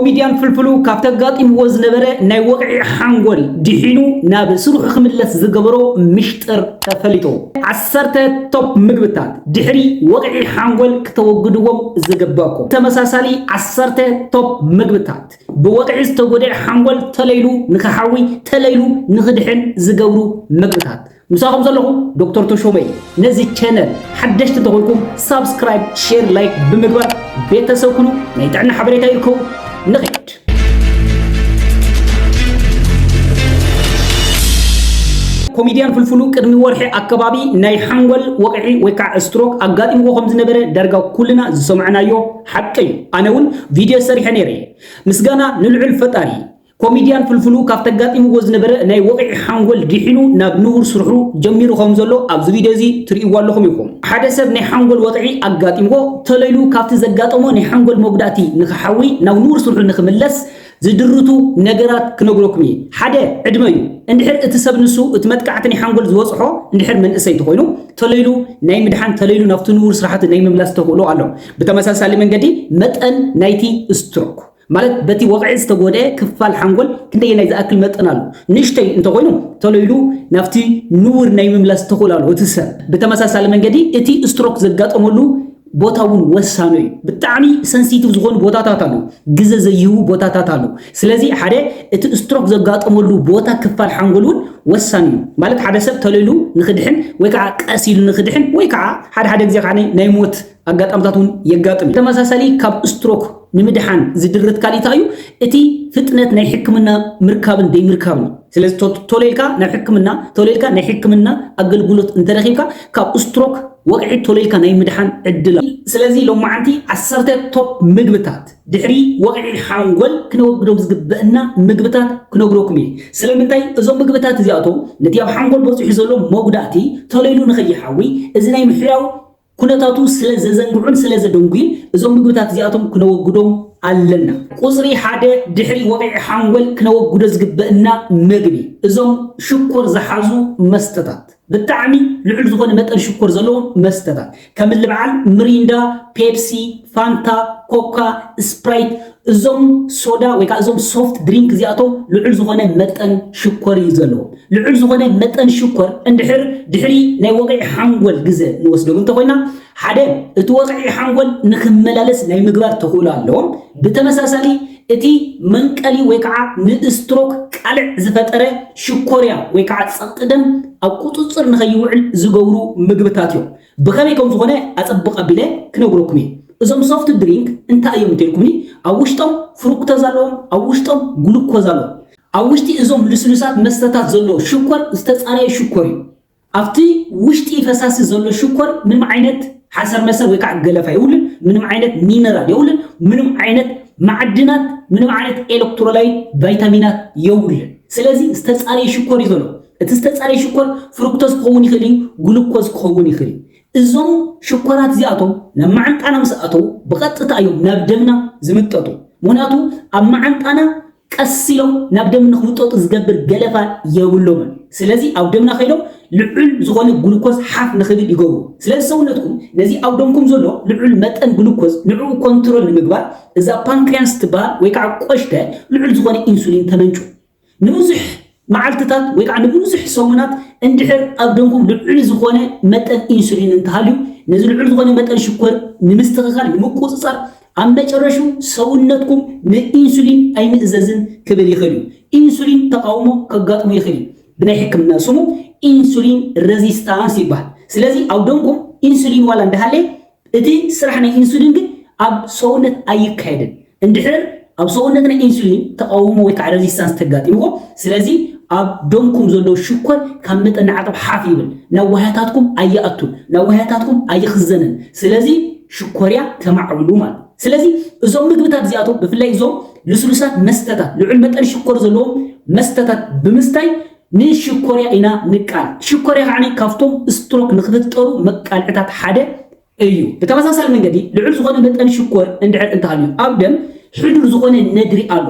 ኮሚድያን ፍልፍሉ ካብቲ ኣጋጢምዎ ዝነበረ ናይ ወቕዒ ሓንጎል ድሒኑ ናብ ስርሑ ክምለስ ዝገበሮ ምሽጥር ተፈሊጡ። ዓሰርተ ቶፕ ምግብታት ድሕሪ ወቕዒ ሓንጎል ክተወግድዎም ዝግበእኩም። ተመሳሳሊ ዓሰርተ ቶፕ ምግብታት ብወቕዒ ዝተጎድኤ ሓንጎል ተለይሉ ንክሓዊ ተለይሉ ንክድሕን ዝገብሩ ምግብታት። ምሳኹም ዘለኹ ዶክተር ተሾመ እዩ። ነዚ ቻነል ሓደሽቲ እንተኾንኩም ሳብስክራይብ፣ ሼር፣ ላይክ ብምግባር ቤተሰብ ኩኑ። ናይ ጥዕና ሓበሬታ ይርከቡ። ንኸይድ ኮሚድያን ፍልፍሉ ቅድሚ ወርሒ ኣከባቢ ናይ ሓንጎል ወቕዒ ወይ ከዓ ስትሮክ ኣጋጢምዎ ከም ዝነበረ ዳርጋ ኩልና ዝሰምዕናዮ ሓቂ እዩ። ኣነ እውን ቪድዮ ሰሪሐ ነይረ። ምስጋና ንልዑል ፈጣሪ። ኮሚድያን ፍልፍሉ ካብቲ ኣጋጢምዎ ዝነበረ ናይ ወቕዒ ሓንጎል ዲሒኑ ናብ ንቡር ስርሑ ጀሚሩ ከም ዘሎ ኣብዚ ቪድዮ እዚ ትርእይዎ ኣለኹም ኢኹም። ሓደ ሰብ ናይ ሓንጎል ወቕዒ ኣጋጢምዎ ተሎ ኢሉ ካብቲ ዘጋጠሞ ናይ ሓንጎል መጉዳእቲ ንኽሓዊ ናብ ንቡር ስርሑ ንኽምለስ ዝድርቱ ነገራት ክነግረኩም እየ። ሓደ፣ ዕድመ እዩ። እንድሕር እቲ ሰብ ንሱ እቲ መጥቃዕቲ ናይ ሓንጎል ዝበጽሖ እንድሕር መንእሰይ ተኾይኑ ተሎ ኢሉ ናይ ምድሓን ተሎ ኢሉ ናብቲ ንቡር ስርሓቱ ናይ ምምላስ ተኽእሎ ኣሎ። ብተመሳሳሊ መንገዲ መጠን ናይቲ ስትሮክ ማለት በቲ ወቕዒ ዝተጎድኤ ክፋል ሓንጎል ክንደየናይ ዝኣክል መጠን ኣሎ? ንእሽቶይ እንተኾይኑ ቶሎ ኢሉ ናብቲ ንቡር ናይ ምምላስ ተኽእሎ ኣለዎ እቲ ሰብ። ብተመሳሳሊ መንገዲ እቲ ስትሮክ ዘጋጠመሉ ቦታ እውን ወሳኑ እዩ። ብጣዕሚ ሰንሲቲቭ ዝኾኑ ቦታታት ኣለዉ፣ ግዘ ዘይህቡ ቦታታት ኣለዉ። ስለዚ ሓደ እቲ ስትሮክ ዘጋጠመሉ ቦታ ክፋል ሓንጎል እውን ወሳኒ እዩ። ማለት ሓደ ሰብ ቶሎ ኢሉ ንኽድሕን ወይ ከዓ ቀስ ኢሉ ንኽድሕን ወይ ከዓ ሓደ ሓደ ግዜ ከዓ ናይ ሞት ኣጋጣምታት እውን የጋጥም እዩ። ተመሳሳሊ ካብ ስትሮክ ንምድሓን ዝድርት ካሊእ እንታይ እዩ? እቲ ፍጥነት ናይ ሕክምና ምርካብን ዘይምርካብን እዩ። ስለዚ ቶሎ ኢልካ ናብ ሕክምና ቶሎ ኢልካ ናይ ሕክምና ኣገልግሎት እንተረኪብካ ካብ ስትሮክ ወቕዒ ቶሎ ኢልካ ናይ ምድሓን ዕድል ኣሎ። ስለዚ ሎማዓንቲ ዓሰርተ ቶፕ ምግብታት ድሕሪ ወቕዒ ሓንጎል ክነወግዶም ዝግበእና ምግብታት ክነግረኩም እየ። ስለምንታይ እዞም ምግብታት እዚኣቶም ነቲ ኣብ ሓንጎል በፂሑ ዘሎ መጉዳእቲ ቶሎ ኢሉ ንከይሓዊ እዚ ናይ ምሕያው ኩነታቱ ስለ ዘዘንግዑን ስለ ዘደንጉዩን እዞም ምግብታት እዚኣቶም ክነወግዶም ኣለና። ቁጽሪ ሓደ ድሕሪ ወቕዒ ሓንጎል ክነወግዶ ዝግበእና መግቢ እዞም ሽኮር ዝሓዙ መስተታት፣ ብጣዕሚ ልዑል ዝኾነ መጠን ሽኮር ዘለዎም መስተታት ከምሊ በዓል ምሪንዳ፣ ፔፕሲ፣ ፋንታ፣ ኮካ፣ ስፕራይት፣ እዞም ሶዳ ወይ ከዓ እዞም ሶፍት ድሪንክ እዚኣቶም ልዑል ዝኾነ መጠን ሽኮር እዩ ዘለዎ ልዑል ዝኾነ መጠን ሽኮር እንድሕር ድሕሪ ናይ ወቕዒ ሓንጎል ግዘ ንወስደሉ እንተኮይና ሓደ እቲ ወቕዒ ሓንጎል ንክመላለስ ናይ ምግባር ተኽእሎ ኣለዎም ብተመሳሳሊ እቲ መንቀሊ ወይ ከዓ ንእስትሮክ ቃልዕ ዝፈጠረ ሽኮርያ ወይ ከዓ ፀቕጢ ደም ኣብ ቁፅፅር ንኸይውዕል ዝገብሩ ምግብታት እዮም ብኸመይ ከም ዝኾነ ኣጸብቕ ኣቢለ ክነግረኩም እየ። እዞም ሶፍት ድሪንክ እንታይ እዮም እንተልኩምኒ ኣብ ውሽጦም ፍሩክቶዝ ኣለዎም፣ ኣብ ውሽጦም ግሉኮዝ ኣሎ። ኣብ ውሽጢ እዞም ልስሉሳት መስተታት ዘሎ ሽኮር ዝተጻረየ ሽኮር እዩ። ኣብቲ ውሽጢ ፈሳሲ ዘሎ ሽኮር ምንም ዓይነት ሓሰርመሰር ወይ ከዓ ገለፋ የብሉን፣ ምንም ዓይነት ሚነራል የብሉን፣ ምንም ዓይነት ማዕድናት፣ ምንም ዓይነት ኤለክትሮላይት፣ ቫይታሚናት የብሉን። ስለዚ ዝተጻረየ ሽኮር እዩ ዘሎ። እቲ ዝተጻረየ ሽኮር ፍሩክቶዝ ክኸውን ይኽእል እዩ፣ ግሉኮዝ ክኸውን ይኽእል እዩ። እዞም ሽኮራት እዚኣቶም ናብ መዓንጣና ምስ ኣተዉ ብቐጥታ እዮም ናብ ደምና ዝምጠጡ፣ ምኽንያቱ ኣብ መዓንጣና ቀስ ኢሎም ናብ ደም ንኽምጠጡ ዝገብር ገለፋ የብሎምን። ስለዚ ኣብ ደምና ከይዶም ልዑል ዝኾነ ግሉኮዝ ሓፍ ንኽብል ይገብሩ። ስለዚ ሰውነትኩም ነዚ ኣብ ደምኩም ዘሎ ልዑል መጠን ግሉኮዝ ንዕኡ ኮንትሮል ንምግባር እዛ ፓንክሪያስ እትበሃል ወይ ከዓ ቆሽተ ልዑል ዝኾነ ኢንሱሊን ተመንጩ። ንብዙሕ መዓልትታት ወይ ከዓ ንብዙሕ ሰሙናት እንድሕር ኣብ ደምኩም ልዑል ዝኾነ መጠን ኢንሱሊን እንተሃልዩ ነዚ ልዑል ዝኾነ መጠን ሽኮር ንምስትኽኻል፣ ንምቁፅፃር፣ ኣብ መጨረሹ ሰውነትኩም ንኢንሱሊን ኣይምእዘዝን ክብል ይኽእል እዩ። ኢንሱሊን ተቓውሞ ከጋጥሞ ይኽእል እዩ። ብናይ ሕክምና ስሙ ኢንሱሊን ረዚስታንስ ይበሃል። ስለዚ ኣብ ደምኩም ኢንሱሊን ዋላ እንዳሃለየ እቲ ስራሕ ናይ ኢንሱሊን ግን ኣብ ሰውነት ኣይካየድን እንድሕር ኣብ ሰውነት ናይ ኢንሱሊን ተቓውሞ ወይ ከዓ ረዚስታንስ ተጋጢምኩም ስለዚ ኣብ ደምኩም ዘሎ ሽኮር ካብ መጠን ንዓቕብ ሓፍ ይብል ናብ ዋህያታትኩም ኣይኣቱን ናብ ዋህያታትኩም ኣይኽዘንን ስለዚ ሽኮርያ ተማዕብሉ ማለት ስለዚ እዞም ምግብታት እዚኣቶም ብፍላይ እዞም ልስሉሳት መስተታት ልዑል መጠን ሽኮር ዘለዎም መስተታት ብምስታይ ንሽኮርያ ኢና ንቃል። ሽኮርያ ከዓኒ ካብቶም ስትሮክ ንክትፍጠሩ መቃልዕታት ሓደ እዩ። ብተመሳሳሊ መንገዲ ልዑል ዝኾነ መጠን ሽኮር እንድሕር እንተሃልዩ ኣብ ደም ሕዱር ዝኾነ ነድሪ ኣሎ።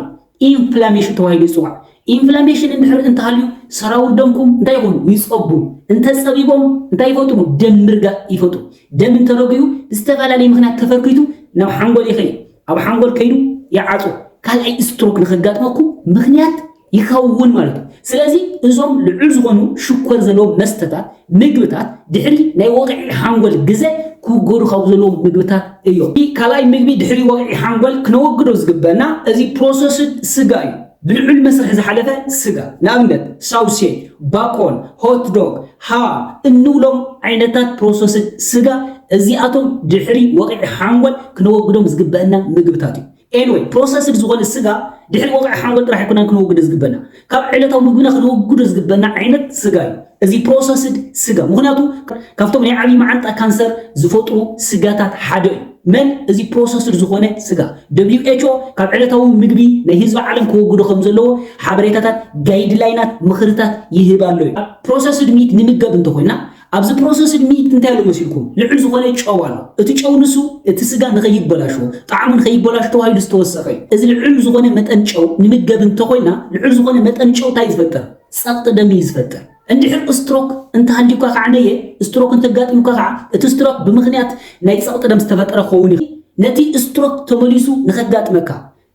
ኢንፍላሜሽን ተባሂሉ ይጽዋዕ። ኢንፍላሜሽን እንድሕር እንተሃልዩ ሰራውር ደምኩም እንታይ ይኾኑ? ይጸቡ። እንተጸቢቦም እንታይ ይፈጥሩ? ደም ምርጋእ ይፈጥሩ። ደም እንተረጉዩ ብዝተፈላለየ ምክንያት ተፈርኪቱ ናብ ሓንጎል ይኸይድ። ኣብ ሓንጎል ከይዱ ይዓጹ ካልኣይ ስትሮክ ንኸጋጥመኩም ምኽንያት ይኸውን ማለት እዩ ስለዚ እዞም ልዑል ዝኾኑ ሽኮር ዘለዎም መስተታት ምግብታት ድሕሪ ናይ ወቕዒ ሓንጎል ግዘ ክውገዱ ካብ ዘለዎም ምግብታት እዮም ካልኣይ ምግቢ ድሕሪ ወቕዒ ሓንጎል ክነወግዶ ዝግበና እዚ ፕሮሰስድ ስጋ እዩ ብልዑል መስርሕ ዝሓለፈ ስጋ፣ ንኣብነት ሳውሴጅ፣ ባኮን፣ ሆት ዶግ፣ ሃም እንብሎም ዓይነታት ፕሮሰስድ ስጋ፣ እዚኣቶም ድሕሪ ወቕዒ ሓንጎል ክነወግዶም ዝግበእና ምግብታት እዮም። Anyway፣ ፕሮሰስድ ዝኾነ ስጋ ድሕሪ ወቕዒ ሓንጎል ጥራሕ ኣይኮናን ክነወግዶ ዝግበእና፣ ካብ ዕለታዊ ምግብና ክነወግዶ ዝግበእና ዓይነት ስጋ እዩ። እዚ ፕሮሰስድ ስጋ ምኽንያቱ ካብቶም ናይ ዓብይ መዓንጣ ካንሰር ዝፈጥሩ ስጋታት ሓደ እዩ። መን እዚ ፕሮሰስድ ዝኾነ ስጋ WHO ካብ ዕለታዊ ምግቢ ናይ ህዝቢ ዓለም ከወግዶ ከምዘለዎ ሓበሬታታት ጋይድላይናት ምኽርታት ይህብ ኣሎ እዩ። ፕሮሰስድ ሚት ንምገብ እንተኾይና ኣብዚ ፕሮሰስድ ሚት እንታይ ኣሎ መሲልኩም ልዑል ዝኾነ ጨው ኣሎ እቲ ጨው ንሱ እቲ ስጋ ንኸይበላሾ ጣዕሙ ንኸይበላሽ ተባሂሉ ዝተወሰኸ እዩ። እዚ ልዑል ዝኾነ መጠን ጨው ንምገብ እንተኾይና ልዑል ዝኾነ መጠን ጨው እንታይ እዩ ዝፈጥር? ጸቕጢ ደም እዩ ዝፈጥር። እንድሕር ስትሮክ እንተሃልዩካ ከኣ ነየ ስትሮክ እንተጋጢሙካ ከኣ እቲ ስትሮክ ብምኽንያት ናይ ጸቕጢ ደም ዝተፈጠረ ክኸውን ይኽእል። ነቲ ስትሮክ ተመሊሱ ንኸጋጥመካ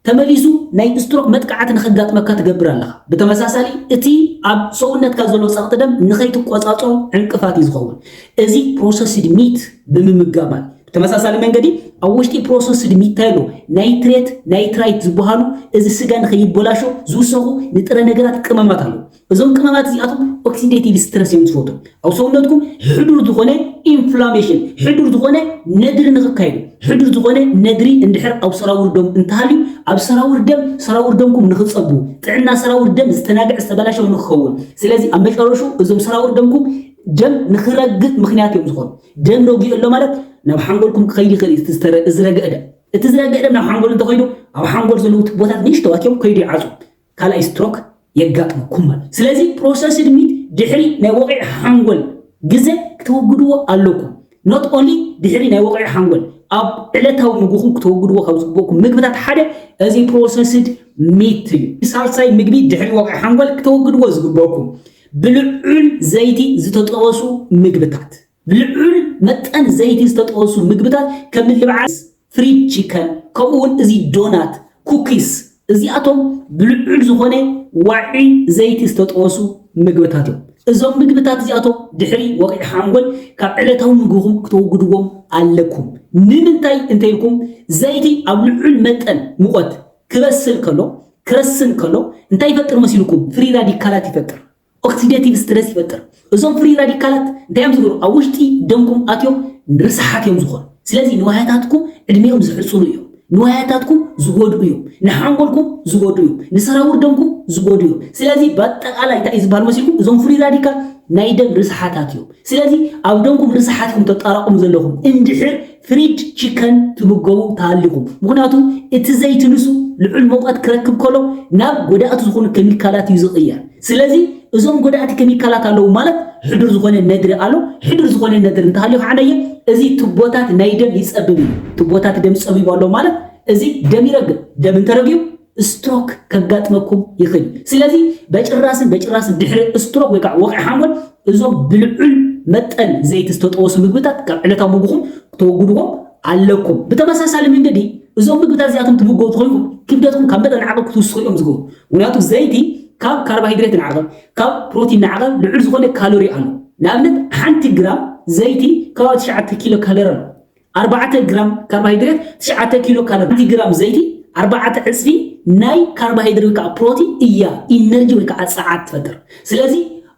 ተመሊሱ ናይ ስትሮክ መጥቃዕቲ ንኸጋጥመካ ትገብር ኣለኻ። ብተመሳሳሊ እቲ ኣብ ሰውነትካ ዘሎ ጸቕጢ ደም ንኸይትቆጻጸሮ ዕንቅፋት እዩ ዝኸውን። እዚ ፕሮሰስድ ሚት ብምምጋብ ማለት። ብተመሳሳሊ መንገዲ ኣብ ውሽጢ ፕሮሰስድ ሚታይሎ ናይትሬት፣ ናይትራይት፣ ዝበሃሉ እዚ ስጋ ንኸይበላሾ ዝውሰኹ ንጥረ ነገራት ቅመማት ኣለዉ። እዞም ቅመማት እዚኣቶም ኦክሲደቲቭ ስትረስ እዮም ዝፈጥሩ። ኣብ ሰውነትኩም ሕዱር ዝኾነ ኢንፍላሜሽን፣ ሕዱር ዝኾነ ነድሪ ንኽካይዱ፣ ሕዱር ዝኾነ ነድሪ እንድሕር ኣብ ሰራውር ደም እንተሃልዩ፣ ኣብ ሰራውር ደም ሰራውር ደምኩም ንኽጸቡ፣ ጥዕና ሰራውር ደም ዝተናግዐ ዝተበላሸወ ንኽኸውን፣ ስለዚ ኣብ መጨረሽኡ እዞም ሰራውር ደምኩም ደም ንኽረግእ ምኽንያት እዮም ዝኾኑ። ደም ረጊኡ ኣሎ ማለት ናብ ሓንጎልኩም ክኸይድ ይኽእል እዩ እቲ ዝረግዐ ደም እቲ ዝረግዐ ደም ናብ ሓንጎል እንተኸይዱ ኣብ ሓንጎል ዘለዉ ትቦታት ንእሽተዋት እዮም ከይዱ ይዓፁ ካልኣይ ስትሮክ የጋጥመኩም ማለት ስለዚ ፕሮሰስድ ሚት ድሕሪ ናይ ወቂዒ ሓንጎል ግዘ ክተወግድዎ ኣለኩም ኖት ኦንሊ ድሕሪ ናይ ወቂዒ ሓንጎል ኣብ ዕለታዊ ምግብኹም ክተወግድዎ ካብ ዝግበኩም ምግብታት ሓደ እዚ ፕሮሰስድ ሚት እዩ ሳልሳይ ምግቢ ድሕሪ ወቂዒ ሓንጎል ክተወግድዎ ዝግበኩም ብልዑል ዘይቲ ዝተጠበሱ ምግብታት፣ ብልዑል መጠን ዘይቲ ዝተጠበሱ ምግብታት ከም ልብዓስ፣ ፍሪድ ቺከን፣ ከምኡ ውን እዚ ዶናት፣ ኩኪስ፣ እዚኣቶም ብልዑል ዝኾነ ዋዒ ዘይቲ ዝተጠበሱ ምግብታት እዮም። እዞም ምግብታት እዚኣቶም ድሕሪ ወቕዒ ሓንጎል ካብ ዕለታዊ ምግብኹም ክተወግድዎም ኣለኩም። ንምንታይ እንተይልኩም ዘይቲ ኣብ ልዑል መጠን ሙቐት ክበስል ከሎ፣ ክረስን ከሎ እንታይ ይፈጥር መሲልኩም? ፍሪ ራዲካላት ይፈጥር። ኦክሲደቲቭ ስትረስ ይፈጥር። እዞም ፍሪ ራዲካላት እንታይ እዮም ዝገብሩ? ኣብ ውሽጢ ደምኩም ኣትዮም ርስሓት እዮም ዝኾኑ። ስለዚ ንዋያታትኩም ዕድሜኦም ዝሕፅሩ እዮም። ንዋያታትኩም ዝጎድኡ እዮም። ንሓንጎልኩም ዝጎድኡ እዮም። ንሰራውር ደምኩም ዝጎድኡ እዮም። ስለዚ ብኣጠቃላይ እንታይ እዩ ዝበሃል መሲልኩም? እዞም ፍሪ ራዲካል ናይ ደም ርስሓታት እዮም። ስለዚ ኣብ ደምኩም ርስሓት ኢኹም ተጣራቕሙ ዘለኹም እንድሕር ፍሪድ ቺከን ትምገቡ ተሃሊኹም፣ ምኽንያቱ እቲ ዘይቲ ንሱ ልዑል ሙቐት ክረክብ ከሎ ናብ ጎዳእቲ ዝኾኑ ከሚካላት እዩ ዝቕየር። ስለዚ እዞም ጎዳእቲ ከሚካላት ኣለዉ ማለት ሕዱር ዝኾነ ነድሪ ኣሎ። ሕዱር ዝኾነ ነድሪ እንተሃልዩ ከዓ ነየ እዚ ቱቦታት ናይ ደም ይፀብብ እዩ። ቱቦታት ደም ፀቢቡ ኣሎ ማለት እዚ ደም ይረግብ። ደም እንተረጊቡ ስትሮክ ከጋጥመኩም ይኽል እዩ። ስለዚ በጭራስን በጭራስን ድሕሪ ስትሮክ ወይ ከዓ ወቕዒ ሓሞት እዞም ብልዑል መጠን ዘይቲ ዝተጠወሱ ምግብታት ካብ ዕለታዊ ምግብኹም ክተወግድዎም ኣለኩም። ብተመሳሳሊ መንገዲ እዞም ምግብታት እዚኣቶም ትምገቡ ተኾይንኩም ክብደትኩም ካብ መጠን ንዓቐብ ክትውስኹ እዮም ዝገብሩ። ምክንያቱ ዘይቲ ካብ ካርባሃይድሬት ንዓቐብ ካብ ፕሮቲን ንዓቐብ ልዑል ዝኾነ ካሎሪ ኣሎ። ንኣብነት ሓንቲ ግራም ዘይቲ ከባቢ ትሽዓተ ኪሎ ካሎሪ ኣሎ። ኣርባዕተ ግራም ካርባሃይድሬት ትሽዓተ ኪሎ ካሎሪ ሓንቲ ግራም ዘይቲ ኣርባዕተ ዕጽፊ ናይ ካርባሃይድሬት ወይ ከኣ ፕሮቲን እያ ኢነርጂ ወይ ከኣ ጸዓት ትፈጥር ስለዚ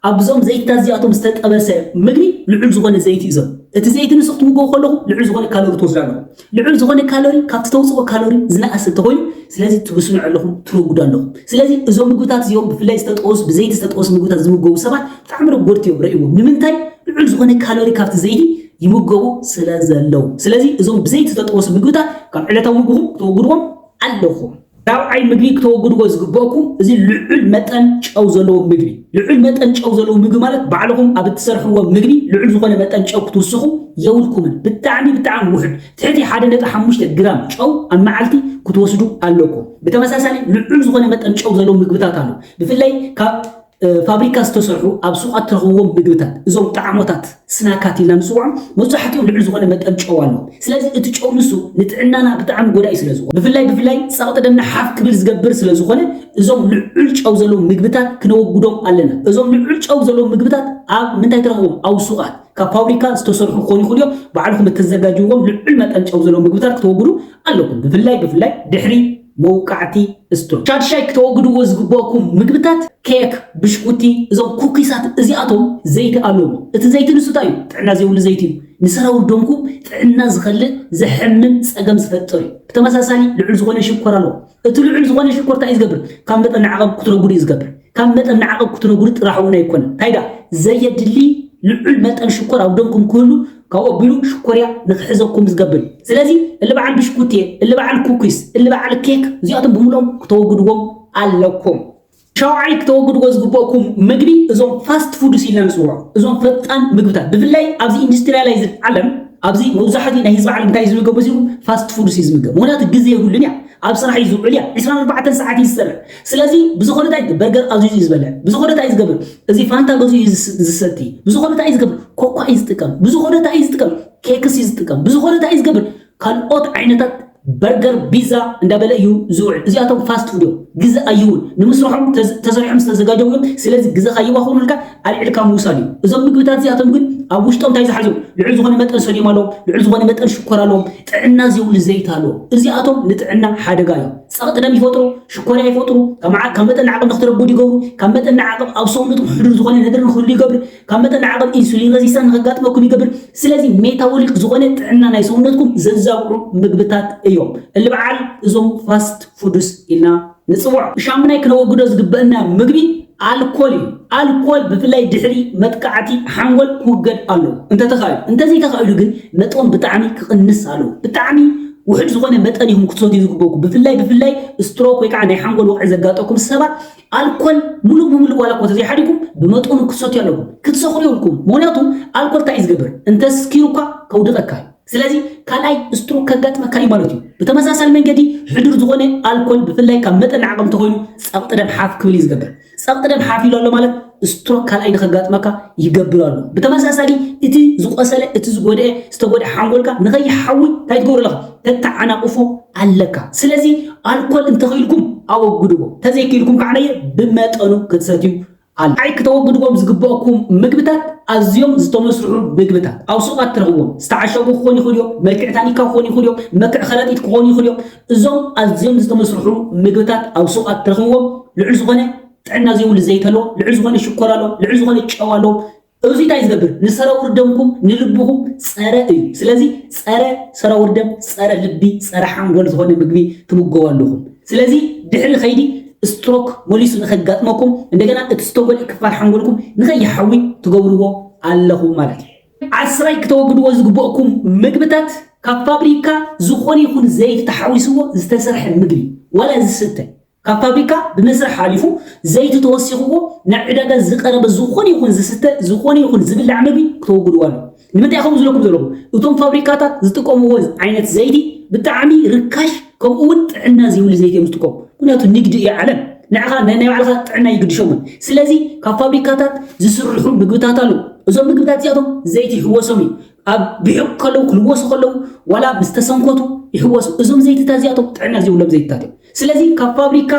ኣብዞም ዘይትታት እዚኣቶም ዝተጠበሰ ምግቢ ልዑል ዝኾነ ዘይቲ እዩ ዘሎ እቲ ዘይቲ ንሱ ክትምገቡ ከለኹም ልዑል ዝኾነ ካሎሪ ትወስዱ ኣለኹም ልዑል ዝኾነ ካሎሪ ካብቲ ተውጽኦ ካሎሪ ዝነኣሰ እንተኾይኑ ስለዚ ትብስኑ ኣለኹም ትረጉዱ ኣለኹም ስለዚ እዞም ምግብታት እዚኦም ብፍላይ ዝተጠወሱ ብዘይቲ ዝተጠወሱ ምግብታት ዝምገቡ ሰባት ብጣዕሚ ረጎድቲ እዮም ረእዎም ንምንታይ ልዑል ዝኾነ ካሎሪ ካብቲ ዘይቲ ይምገቡ ስለ ዘለው። ስለዚ እዞም ብዘይተተጠወሱ ምግብታት ካብ ዕለታዊ ምግብኹም ክተወግድዎም ኣለኹም። ራብዓይ ምግቢ ክተወግድዎ ዝግበእኩም እዚ ልዑል መጠን ጨው ዘለዎ ምግቢ። ልዑል መጠን ጨው ዘለዎ ምግቢ ማለት ባዕልኹም ኣብ እትሰርሕዎ ምግቢ ልዑል ዝኾነ መጠን ጨው ክትውስኹ የብልኩምን። ብጣዕሚ ብጣዕሚ ውሑድ ትሕቲ ሓደ ነጥቢ ሓሙሽተ ግራም ጨው ኣብ መዓልቲ ክትወስዱ ኣለኩም። ብተመሳሳሊ ልዑል ዝኾነ መጠን ጨው ዘለዎ ምግብታት ኣሎ። ብፍላይ ካብ ፋብሪካ ዝተሰርሑ ኣብ ሱቓት ትረኽብዎም ምግብታት፣ እዞም ጣዕሞታት፣ ስናካት ኢልና ንጽውዖም፣ መብዛሕትኦም ልዑል ዝኾነ መጠን ጨው ኣለዎም። ስለዚ እቲ ጨው ንሱ ንጥዕናና ብጣዕሚ ጎዳኢ ስለዝኾነ፣ ብፍላይ ብፍላይ ጸቕጢ ደምና ሓፍ ክብል ዝገብር ስለዝኾነ፣ እዞም ልዑል ጨው ዘለዎም ምግብታት ክነወግዶም ኣለና። እዞም ልዑል ጨው ዘለዎም ምግብታት ኣብ ምንታይ ትረኽብዎም? ኣብ ሱቓት ካብ ፋብሪካ ዝተሰርሑ ክኾኑ ይኽእሉ እዮም። ባዕልኹም እተዘጋጅውዎም ልዑል መጠን ጨው ዘለዎም ምግብታት ክተወግዱ ኣለኩም። ብፍላይ ብፍላይ ድሕሪ። መውቃዕቲ ስቶን ሻድሻይ ክተወግድዎ ዝግበእኩም ምግብታት ኬክ ብሽኩቲ እዞም ኩኪሳት እዚኣቶም ዘይቲ ኣለዎም እቲ ዘይቲ ንሱ ታይ እዩ ጥዕና ዘይብሉ ዘይቲ እዩ ንሰራውር ደምኩም ጥዕና ዝኸልእ ዘሕምም ጸገም ዝፈጥር እዩ ብተመሳሳሊ ልዑል ዝኾነ ሽኮር ኣለዎ እቲ ልዑል ዝኾነ ሽኮር ታይ እዩ ዝገብር ካብ መጠን ንዓቐብ ክትረጉድ እዩ ዝገብር ካብ መጠን ንዓቐብ ክትነግሩ ጥራሕ እውን ኣይኮነን፣ እንታይ ደኣ ዘየድሊ ልዑል መጠን ሽኮር ኣብ ደምኩም ክህሉ ካብኡ ኣቢሉ ሽኮርያ ንክሕዘኩም ዝገብር እዩ። ስለዚ እሊ በዓል ብሽኩቲ፣ እሊ በዓል ኩኪስ፣ እሊ በዓል ኬክ እዚኣቶም ብምልኦም ክተወግድዎም ኣለኩም። ሻውዓይ ክተወግድዎ ዝግበእኩም መግቢ እዞም ፋስት ፉድስ ኢልና ንጽውዖም እዞም ፈጣን ምግብታት ብፍላይ ኣብዚ ኢንዱስትሪያላይዝድ ዓለም ኣብዚ መብዛሕትኡ ናይ ህዝቢ ዓለም እንታይ ዝምገብ በዚኹም ፋስት ፉድስ እዩ ዝምገብ ምክንያቱ ግዜ የብሉን እያ ኣብ ስራሕ እዩ ዝውዕል እያ 24 ሰዓት እዩ ዝሰርሕ ስለዚ ብዝኾነ ታይ ይገብር በርገር ኣዚዙ እዩ ዝበልዕ ብዝኾነ ታይ እዩ ዝገብር እዚ ፋንታ ገዚኡ እዩ ዝሰቲ ብዝኾነ ታይ እዩ ዝገብር ኮኳ እዩ ዝጥቀም ብዝኾነ ታይ እዩ ዝጥቀም ኬክስ እዩ ዝጥቀም ብዝኾነ ታይ እዩ ዝገብር ካልኦት ዓይነታት በርገር ቢዛ እንዳበለ እዩ ዝውዕል እዚኣቶም ፋስት ፉድ እዮም ግዘ ኣይውን ንምስርሖም ተሰሪሖም ዝተዘጋጀው እዮም ስለዚ ግዘ ካይባኽኑልካ ኣልዕልካ ምውሳድ እዩ እዞም ምግብታት እዚኣቶም ግን ኣብ ውሽጦም እንታይ ዝሓዙ ልዑል ዝኾነ መጠን ሶዲየም ኣለዎም ልዑል ዝኾነ መጠን ሽኮር ኣለዎም ጥዕና ዘይብሉ ዘይት ኣለዎም እዚኣቶም ንጥዕና ሓደጋ እዮም ጸቕጢ ደም ይፈጥሩ፣ ሽኮርያ ይፈጥሩ፣ ካብ መጠን ንዓቕብ ንክትረጉድ ይገብሩ፣ ካብ መጠን ንዓቕብ ኣብ ሰውነትኩም ሕዱር ዝኾነ ነገር ንክህሉ ይገብር፣ ካብ መጠን ንዓቕብ ኢንሱሊን ረዚስታንስ ንከጋጥመኩም ይገብር። ስለዚ ሜታቦሊክ ዝኾነ ጥዕና ናይ ሰውነትኩም ዘዛብዑ ምግብታት እዮም እሊ በዓል እዞም ፋስት ፉድስ ኢልና ንጽውዖም። ሻምናይ ክነወግዶ ዝግበእና ምግቢ ኣልኮል እዩ። ኣልኮል ብፍላይ ድሕሪ መጥቃዕቲ ሓንጎል ክውገድ ኣለዎ እንተተኻኢሉ። እንተዘይተኻኢሉ ግን መጠኑ ብጣዕሚ ክቕንስ ኣለዎ። ብጣዕሚ ውሑድ ዝኾነ መጠን ኢኹም ክትሰትዩ ዝግበኩም። ብፍላይ ብፍላይ ስትሮክ ወይ ከዓ ናይ ሓንጎል ወቕዒ ዘጋጠኩም ሰባት ኣልኮል ሙሉእ ብሙሉእ ዋላ እኮ ተዘይሓዲኩም ብመጠኑ ክትሰትዩ ኣለኩም። ክትሰኽሩ የብልኩምን። ምኽንያቱ ኣልኮል እንታይ እዩ ዝገብር? እንተስኪሩ እኳ ከውድቐካ እዩ። ስለዚ ካልኣይ ስትሮክ ከጋጥመካ እዩ ማለት እዩ። ብተመሳሳሊ መንገዲ ሕዱር ዝኾነ ኣልኮል ብፍላይ ካብ መጠን ንዓቐብ እንተኾይኑ ጸቕጢ ደም ሓፍ ክብል እዩ ዝገብር። ጸቕጢ ደም ሓፍ ኢሉ ኣሎ ማለት ስትሮክ ካልኣይ ንኸጋጥመካ ይገብር ኣሎ። ብተመሳሳሊ እቲ ዝቆሰለ እቲ ዝጎድአ ዝተጎድአ ሓንጎልካ ንኸይሓዊ እንታይ ትገብሮ ኣለኻ ተተዓናቕፎ ኣለካ። ስለዚ ኣልኮል እንተኽኢልኩም ኣወግድዎ፣ እንተዘይክኢልኩም ከዓ ብመጠኑ ክትሰትዩ ካልኣይ ክተወግድዎም ዝግበእኩም ምግብታት ኣዝዮም ዝተመስርሑ ምግብታት ኣብ ሱቓት ትረኽብዎም ዝተዓሸጉ ክኾኑ ይኽእሉ እዮም፣ መልክዕ ታኒካ ክኾኑ ይኽእሉ እዮም፣ መልክዕ ከረጢት ክኾኑ ይኽእሉ እዮም። እዞም ኣዝዮም ዝተመስርሑ ምግብታት ኣብ ሱቓት ትረኽብዎም ልዑል ዝኾነ ጥዕና ዘይብሉ ዘይት ኣለዎም፣ ልዑል ዝኾነ ሽኮር ኣለዎም፣ ልዑል ዝኾነ ጨው ኣለዎም፣ እዙይ ታይ ዝገብር ንሰረውር ደምኩም ንልብኹም ፀረ እዩ ስለዚ ፀረ ሰረውር ደም ፀረ ልቢ ፀረ ሓንጎል ዝኾነ ምግቢ ትምገቡ ኣለኹም ስለዚ ድሕሪ ከይዲ ስትሮክ መሊሱ ንከጋጥመኩም እንደገና እቲ ዝተጎድእ ክፋል ሓንጎልኩም ንከይሓዊ ትገብርዎ ኣለኹም ማለት እዩ ዓስራይ ክተወግድዎ ዝግበእኩም ምግብታት ካብ ፋብሪካ ዝኾነ ይኹን ዘይቲ ተሓዊስዎ ዝተሰርሐ ምግቢ ዋላ ዝስተ ካብ ፋብሪካ ብመስርሕ ሓሊፉ ዘይቲ ተወሲኽዎ ናብ ዕዳጋ ዝቐረበ ዝኾነ ይኹን ዝስተ ዝኾነ ይኹን ዝብላዕ መግቢ ክተወግድዎ ኣለኩም። ንምንታይ ከምኡ ዝብለኩም ዘለኹ እቶም ፋብሪካታት ዝጥቀምዎ ዓይነት ዘይቲ ብጣዕሚ ርካሽ ከምኡ ውን ጥዕና ዘይብሉ ዘይቲ እዮም ዝጥቀሙ ምክንያቱ ንግዲ እዩ ዓለም ንዕኻ ናይ ባዕልኻ ጥዕና ይግድሾምን ስለዚ ካብ ፋብሪካታት ዝስርሑ ምግብታት ኣለዉ እዞም ምግብታት እዚኣቶም ዘይቲ ይሕወሶም እዩ ኣብ ብሕቅ ከለዉ ክልወሱ ከለዉ ዋላ ምስ ተሰንኮቱ ይሕወሱ እዞም ዘይትታት እዚኣቶም ጥዕና ዘይብሎም ዘይትታት እዮም ስለዚ ካብ ፋብሪካ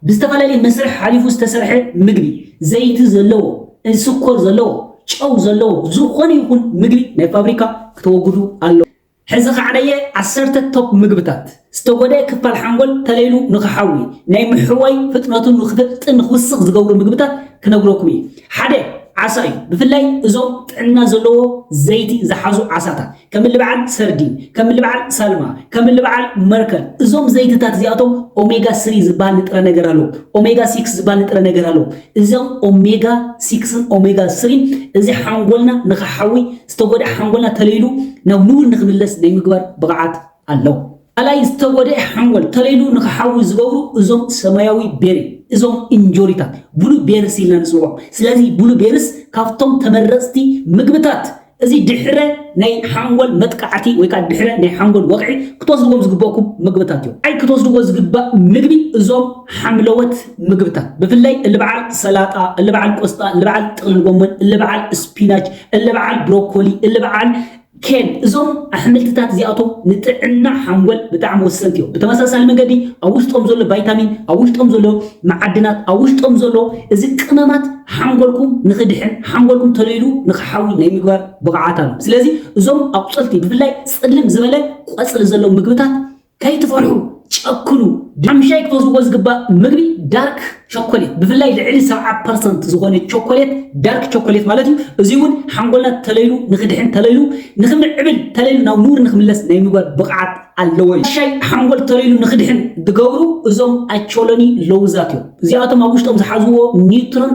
ብዝተፈላለየ መስርሕ ሓሊፉ ዝተሰርሐ ምግቢ፣ ዘይቲ ዘለዎ፣ እንስኮር ዘለዎ፣ ጨው ዘለዎ ዝኾነ ይኹን ምግቢ ናይ ፋብሪካ ክተወግዱ ኣለኩም። ሕዚ ካዕበየ ዓሰርተ ቶፕ ምግብታት፣ ዝተጎድኤ ክፋል ሓንጎል ተለይሉ ንክሓዊ፣ ናይ ምሕዋይ ፍጥነቱ ንክፈጥጥን ንክውስኽ ዝገብሩ ምግብታት ክነግረኩም እየ። ሓደ፣ ዓሳ እዩ። ብፍላይ እዞም ጥዕና ዘለዎ ዘይቲ ዝሓዙ ዓሳታት። ከምሊ በዓል ሰርዲን፣ ከምሊ በዓል ሳልማ፣ ከምሊ በዓል መርከር እዞም ዘይትታት እዚኣቶም ኦሜጋ ስሪ ዝበሃል ንጥረ ነገር ኣለዎም። ኦሜጋ ሲክስ ዝበሃል ንጥረ ነገር ኣለዎም። እዞም ኦሜጋ ሲክስን ኦሜጋ ስሪን እዚ ሓንጎልና ንኽሓዊ ዝተጎድኣ ሓንጎልና ተለይሉ ናብ ንቡር ንኽምለስ ናይ ምግባር ብቕዓት ኣለዎም። ካልኣይ ዝተጎድኤ ሓንጎል ተለይሉ ንክሓዊ ዝገብሩ እዞም ሰማያዊ ቤሪ እዞም እንጆሪታት ብሉ ቤርስ ኢልና ንፅውዖም። ስለዚ ብሉ ቤርስ ካብቶም ተመረፅቲ ምግብታት እዚ ድሕረ ናይ ሓንጎል መጥቃዕቲ ወይ ከዓ ድሕረ ናይ ሓንጎል ወቕዒ ክትወስድዎም ዝግበእኩም ምግብታት እዮም። ኣይ ክትወስድዎ ዝግባእ ምግቢ እዞም ሓምለዎት ምግብታት ብፍላይ እልበዓል ሰላጣ፣ እልበዓል ቆስጣ፣ እልበዓል ጥቕልል ጎመን፣ እልበዓል ስፒናች፣ እልበዓል ብሮኮሊ፣ እልበዓል ኬን፣ እዞም ኣሕምልትታት እዚኣቶም ንጥዕና ሓንጎል ብጣዕሚ ወሰንቲ እዮም። ብተመሳሳሊ መንገዲ ኣብ ውሽጦም ዘሎ ቫይታሚን፣ ኣብ ውሽጦም ዘሎ መዓድናት፣ ኣብ ውሽጦም ዘሎ እዚ ቅመማት ሓንጎልኩም ንኽድሕን፣ ሓንጎልኩም ቶሎ ኢሉ ንኽሓዊ ናይ ምግባር ብቕዓት ኣለዎ። ስለዚ እዞም ኣቑጽልቲ ብፍላይ ጽልም ዝበለ ቆጽሊ ዘለዎም ምግብታት ከይትፈርሑ ጨክኑ ብሓምሻይ ክትወስድዎ ዝግባእ ምግቢ ዳርክ ቸኮሌት ብፍላይ ልዕሊ ሰብዓ ፐርሰንት ዝኾነ ቸኮሌት ዳርክ ቸኮሌት ማለት እዩ እዙይ እውን ሓንጎልና ተለይሉ ንክድሕን ተለይሉ ንክምዕብል ተለይሉ ናብ ንቡር ንክምለስ ናይ ምግባር ብቕዓት ኣለዎ እዩ ሻይ ሓንጎል ተለይሉ ንክድሕን ዝገብሩ እዞም ኣቾሎኒ ለውዛት እዮም እዚኣቶም ኣብ ውሽጦም ዝሓዝዎ ኒውትሮን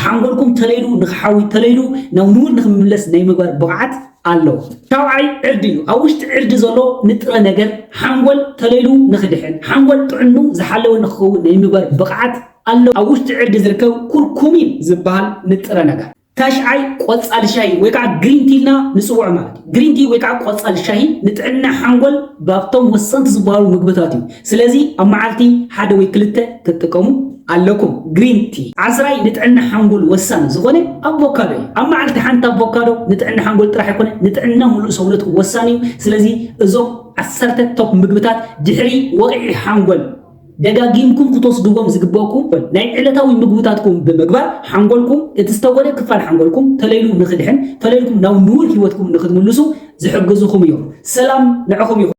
ሓንጎልኩም ተለይሉ ንክሓዊ ተለይሉ ናብ ንቡር ንክምለስ ናይ ምግባር ብቕዓት ኣሎ። ሻውዓይ ዕርዲ እዩ። ኣብ ውሽጢ ዕርዲ ዘሎ ንጥረ ነገር ሓንጎል ተለሉ ንክድሕን፣ ሓንጎል ጥዕንኡ ዝሓለወ ንክኸውን ናይ ምግባር ብቕዓት ኣሎ። ኣብ ውሽጢ ዕርዲ ዝርከብ ኩርኩሚን ዝበሃል ንጥረ ነገር። ታሽዓይ ቆፃል ሻሂ ወይ ከዓ ግሪን ቲ ኢልና ንፅውዖ ማለት እዩ። ግሪን ቲ ወይ ከዓ ቆፃል ሻሂ ንጥዕና ሓንጎል ባብቶም ወሰንቲ ዝበሃሉ ምግብታት እዩ። ስለዚ ኣብ መዓልቲ ሓደ ወይ ክልተ ክትጥቀሙ ኣለኩም። ግሪን ቲ። ዓስራይ ንጥዕና ሓንጎል ወሳኒ ዝኾነ ኣቮካዶ እዩ። ኣብ መዓልቲ ሓንቲ ኣቮካዶ ንጥዕና ሓንጎል ጥራሕ ኣይኮነ ንጥዕና ሙሉእ ሰውነት እውን ወሳኒ እዩ። ስለዚ እዞም ዓሰርተ ቶፕ ምግብታት ድሕሪ ወቕዒ ሓንጎል ደጋጊምኩም ክትወስድዎም ዝግበእኩም ናይ ዕለታዊ ምግብታትኩም ብምግባር ሓንጎልኩም እቲ ዝተጎደ ክፋል ሓንጎልኩም ተለይሉ ንክድሕን ተለይልኩም ናብ ንቡር ሂወትኩም ንክትምልሱ ዝሕግዙኹም እዮም። ሰላም ንዕኹም ይኹን።